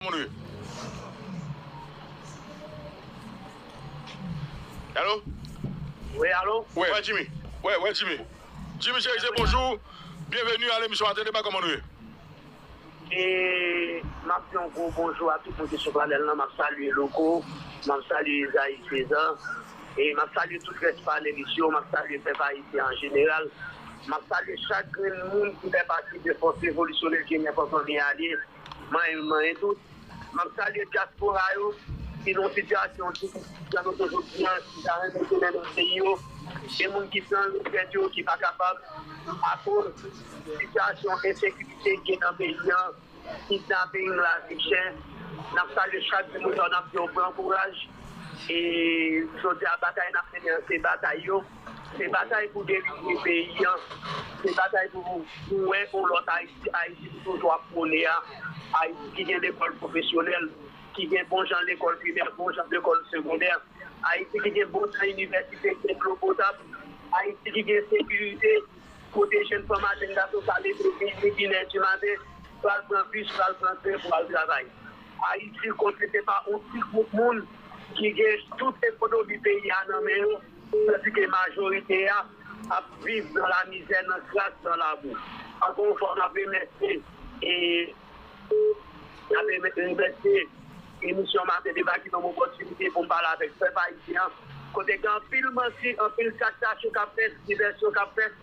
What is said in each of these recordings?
Monre. Alo? Wi, alo? Wi. Wè Jimmy? Wè, wè Jimmy. Jimmy Cherizier, bonjou. Byenveni a lemisyon Ate Deba, kòman nou ye? E, m ap di yon gwo bonjou a tout moun ki sou panèl lan. M ap salye Louko, m ap salye Ezayi Sezan e m ap salye tout rès panelis yo. M ap salye pèp ayisyen an jeneral. M ap salye chak grenn moun ki fè pati de fòs revolisyonè ki genyen Fanmi Alye. Mwen youn nan e tout. M ap salye dyaspora yo ki nan sitiyasyon difisil jan nou te jodi an, ki ta renmen tounen nan peyi yo. Gen moun ki pran lou tèt yo, ki pa kapab akoz sitiyasyon ensekirite ki gen nan peyi an, kidnaping, lavi chè. N ap salye chak timoun sa yo, n ap di yo pran kouraj. E jodi a batay n ap mennen an se batay yo. Se batay pou delivre peyi an, se batay pou nou wè yon lòt Ayiti, Ayiti nou toujou ap pwone a, Ayiti ki gen lekòl pwofesyonèl, ki gen bon jan lekòl primè, bon jan lekòl segondè, Ayiti ki gen bon jan inivèsite, ki gen dlo potab, Ayiti ki gen sekirite, kote jenn fanm ak jenn gason ka leve midi, inè di maten, pral pran bis, pral pran tren pou al travay. Ayiti kote se pa yon ti gwoup moun ki gen tout ekonomi peyi a nan men yo. Tandike majorite a ap viv nan lamizè, nan kras, nan labou. Ankò yon fwa map remèsye map remèsye emisyon Maten Deba ki ban m opòtinite pou m pale avèk pèp ayisyen an kote gen anpil manti, anpil kaktachou kap fèt, divèsyon kap fèt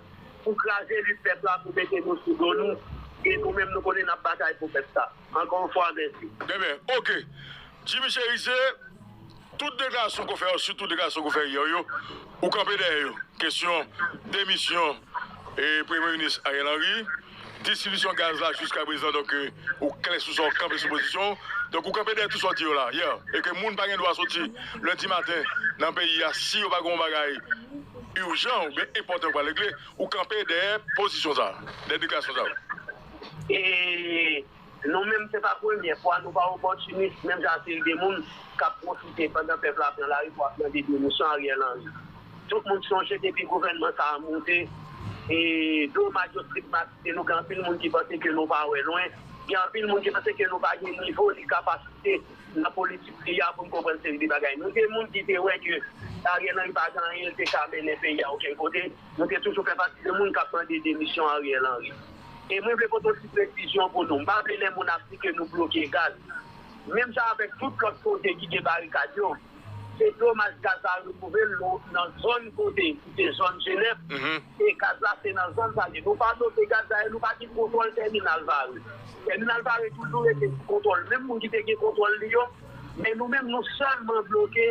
pou kraze lit pèp la, pou mete nou sou do nou e nou menm nou konnen nap batay pou pèp sa. Ankò yon fwa mèsi. Demen ok Jimmy Cherizier. Tout de gason ko fè yo sitou de gason ko fè yè yo ou kanpe dèyè yo kesyon demisyon premye minis Ariel Henry distribisyon gaz la jiska prezan donk ou klè sou sa ou kanpe sou pozisyon ou donk ou kanpe dèyè tout sa ou di yo la yè e ke moun pa gen dwa soti lendi maten nan peyi a si yo pa gen yon bagay urjan ou byen enpòtan yo pral regle ou kanpe dèyè pozisyon sa a dèyè deklarasyon sa yo. Nou menm se pa premyè fwa nou pa opòtinis menm jan ak seri de moun k ap pwofite pandan pèp la pran lari pou ap mande demisyon Ariel Henry. Tout moun sonje depi gouvènman sa a moute e domaj yo stigmatize nou gen anpil moun ki panse ke nou pa wè lwen, gen anpil moun ki panse ke nou pa gen nivo ni kapasite nan politik peyi a pou n konprann seri de bagay. Nou se moun ki te wè ke Ariel Henry pa gen anyen li te ka mennen peyi a okenn kote. Mwen te toujou fè pati de moun kap mande demisyon Ariel Henry. E mwen vle pote yon ti presizyon pou nou, m pa vle lè moun ap di ke nou bloke gaz. Menm jan avèk tout lòt kote ki gen barikad yo, se domaj gaz la retwouve l nou nan zòn kote ki se zòn Jenèv, e gaz la se nan zòn sa l ye. Nou pa bloke gaz dayè nou pa gen kontwòl tèminal Varreux. Tèminal Varreux toujou rete sou kontwòl menm moun ki te gen kontwòl li yo, men nou menm nou sèlman bloke.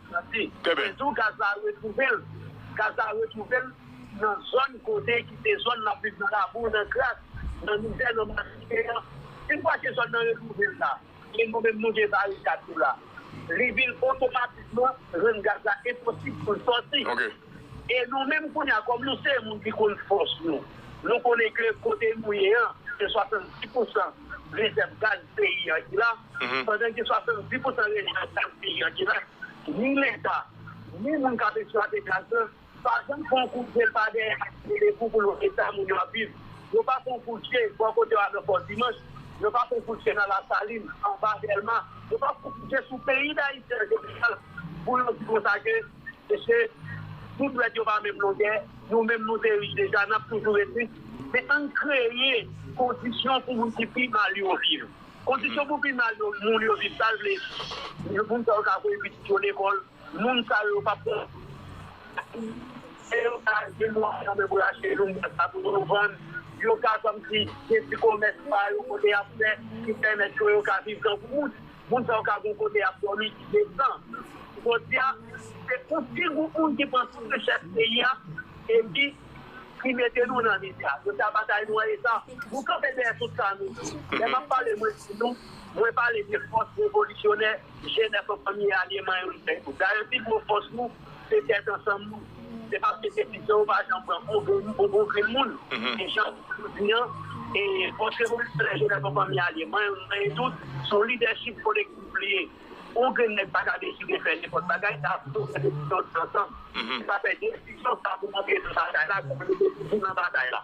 Mèsi. Mwen vle di w gaz la retwouve l. Gaz la retwouve l nan zòn kote ki se zòn l ap viv nan labou, nan kras, nan mizè, nan malsite an. Yon fwa se zòn nan retwouve l la, e nou menm nou gen barikad nou la, li vin otomatikman rann gaz la enposib pou l sòti. E nou menm kounye a, kòm nou se moun ki konn fòs nou, nou konnen ke kote nou ye an, se 70 pousan rezèv gaz peyi an ki la, pandan gen 70 pousan rezèv gaz peyi an ki la, ni Leta, ni moun k ap eksplwate gaz la, pa janm fè yon kout je pa dèyè ak gade pou pou l wè eta moun yo ap viv. Yo pa fè yon kout je bò kote w a nan Fò Dimanch, yo pa fè yon kout je nan Lasalin, anba Dèlma, yo pa fè yon kout je sou peyi Dayiti an jeneral pou yo di konsa ke, Mesye, nou dwèt yo pa menm longè, nou menm nou te rich deja, n ap toujou ret rich. Men ann kreye kondisyon pou moun ki pi mal yo viv. Kondisyon pou pi mal yo moun yo viv sa l vle di, moun sa yo ka voye pitit yo lekòl, moun sa yo pa p pran swen yo, yo ka gen mwayen nan men pou yo achte yon bwat sa pou yo vann, yo ka kòmsi gen ti komès pa yo kote y ap fè ki pèmèt yo yo ka viv tankou moun. Moun sa yo ka gon kote yap dòmi ki desan. Jodia se yon ti gwoup moun ki pran tout richès peyi a epi ki mete nou nan mizè. Jodia batay nou an eta. Nou kanpe dèyè tout sa nou di. Lè map pale mwen di nou, mwen pale de fòs revolisyonè jenès ansanm ye alyeman yo. Dayè pi gwo fòs nou. Se tèt ansanm nou. Se paske se pito ou pa janm pran bon grenn bon bon grenn moun ki jan ou di yo di an e fòs revolisyoner jenès an fanmi alye manyen nou manyen tout se yon lidèchip kolektif li ye yon grenn nèg pa ka deside fè nenpòt bagay sa ap fòk fè desizyon tout ansanm e sa fè desizyon sa pou antre nan batay la pou mete nou tout nan batay la.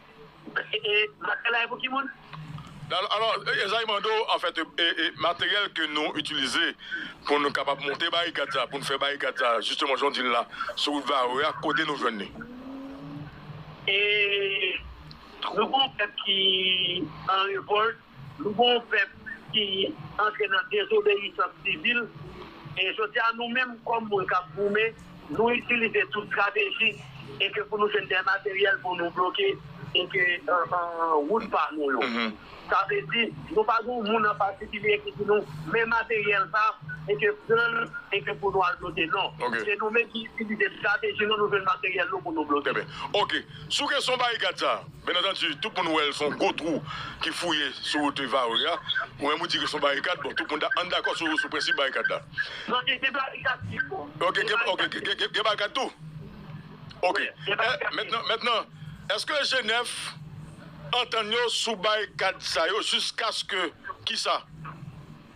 E materyèl la e pou ki moun? Dal, Alò, Ezayi mande w anfèt e materyèl ke nou itilize pou nou kapab monte barikad sa, pou nou fè barikad sa jisteman jan w di l la sou wout Varreux a, kote nou jwenn li? E nou gen yon pèp ki an revòlt, Nou gen yon pèp ki antre nan dezobeyisans sivil e jodi a nou menm kòm moun k ap goumen nou itilize tout strateji e ke pou nou jwenn dè materyèl pou nou bloke e ke wout pa nou yo. Sa vle di nou pa gen yon moun an patikilye ki di nou men materyèl sa e ke pran l e ke pou nou al bloke non. Se nou menm ki itilize strateji nou nou jwenn materyèl nou pou nou bloke. Trè byen. Ok. Sou kesyon barikad sa. Byen antandi, tout moun wè l s on gwo twou ki fouye sou wout Varreux a. Ou menm ou di ke s on barikad, bon tout moun ta ann dakò sou sou prensip barikad la. Non gen gen barikad pito. Ok gen ok gen gen gen gen barikad tou? Ok Gen gen barikad pito. Mètnan mètnan èske Jenèf antann yo sou barikad sa yo jiskaske kisa?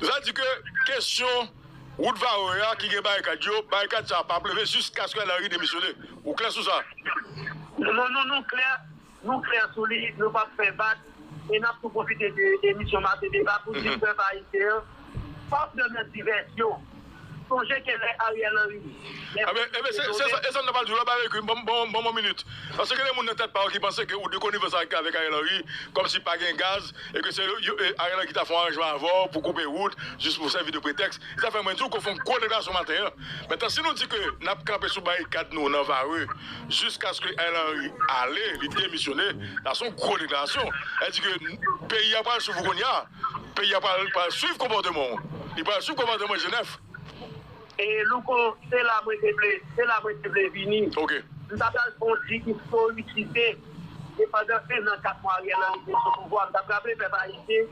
Sa di ke kesyon wout Varreux a ki gen barikad yo, barikad sa a pa ap leve jiskaske Ariel Henry demisyone. Ou klè sou sa? Non, non, nou klè, nou klè sou li, nou p ap fè vag. E n ap tou pwofite de emisyon Maten Deba pou di pèp ayisyen an, pa pran nan divèsyon. Sonje ke lè Ariel Henry gen pou li te nome. E sam ta pral di w la Baregui, m ban w yon minit. Paske gen de moun nan tèt pa yo ki panse ke ou de konivans avèk Ariel Henry kòm si pa gen gaz e ke se Ariel Henry ki ta fè yon aranjman avè w pou koupe wout jis pou sèvi de pretèks. Se sa fè mwen di w ke w fè yon gwo deklarasyon maten an. Mentnan si nou di ke n ap kanpe sou barikad nou nan Varreux jiskaske Ariel Henry ale, li demisyone, sa se yon gwo deklarasyon. Sa vle di ke peyi a pral sou vou kounye a. Peyi a pral pral swiv konpòteman w. Li pral swiv konpòteman Jenèf. E Louko, se la mwen te vle, se la mwen te vle vini. Ok. M ta pral fè yon ti istorikite de pandan 1 an 4 mwa Ariel Henry te sou pouvwa. M t ap raple pèp ayisyen,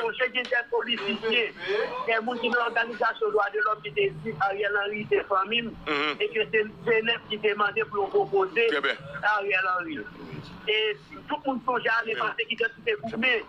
sonje gen kèk politisyen, kèk moun ki nan òganizasyon dwa de lòm ki te di Ariel Henry se fanmi m e ke se Jenèf ki te mande pou yo pwopoze Ariel Henry. E tout moun sonje ane pase ki dèt ki te goumen.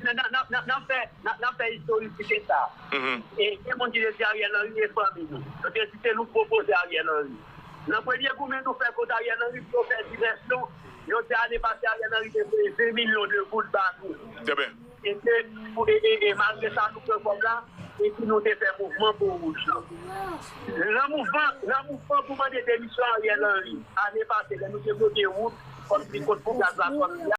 Nan fè istori si se sa. E gen moun ki te di Ariel Henry e fanmi nou. Yo te di se nou k pwopoze Ariel Henry. Nan premye goumen nou fè kont Ariel Henry pou yo fè divèsyon, yo di ane pase Ariel Henry te voye 2 milyon de goud ba nou. E ke e malgre sa nou pran kòb la e pi nou te fè mouvman po wouj lan. Nan mouvman nan mouvman pou mande demisyon Ariel Henry ane pase lè nou te bloke wout kòm si kont pou gaz la sòti a.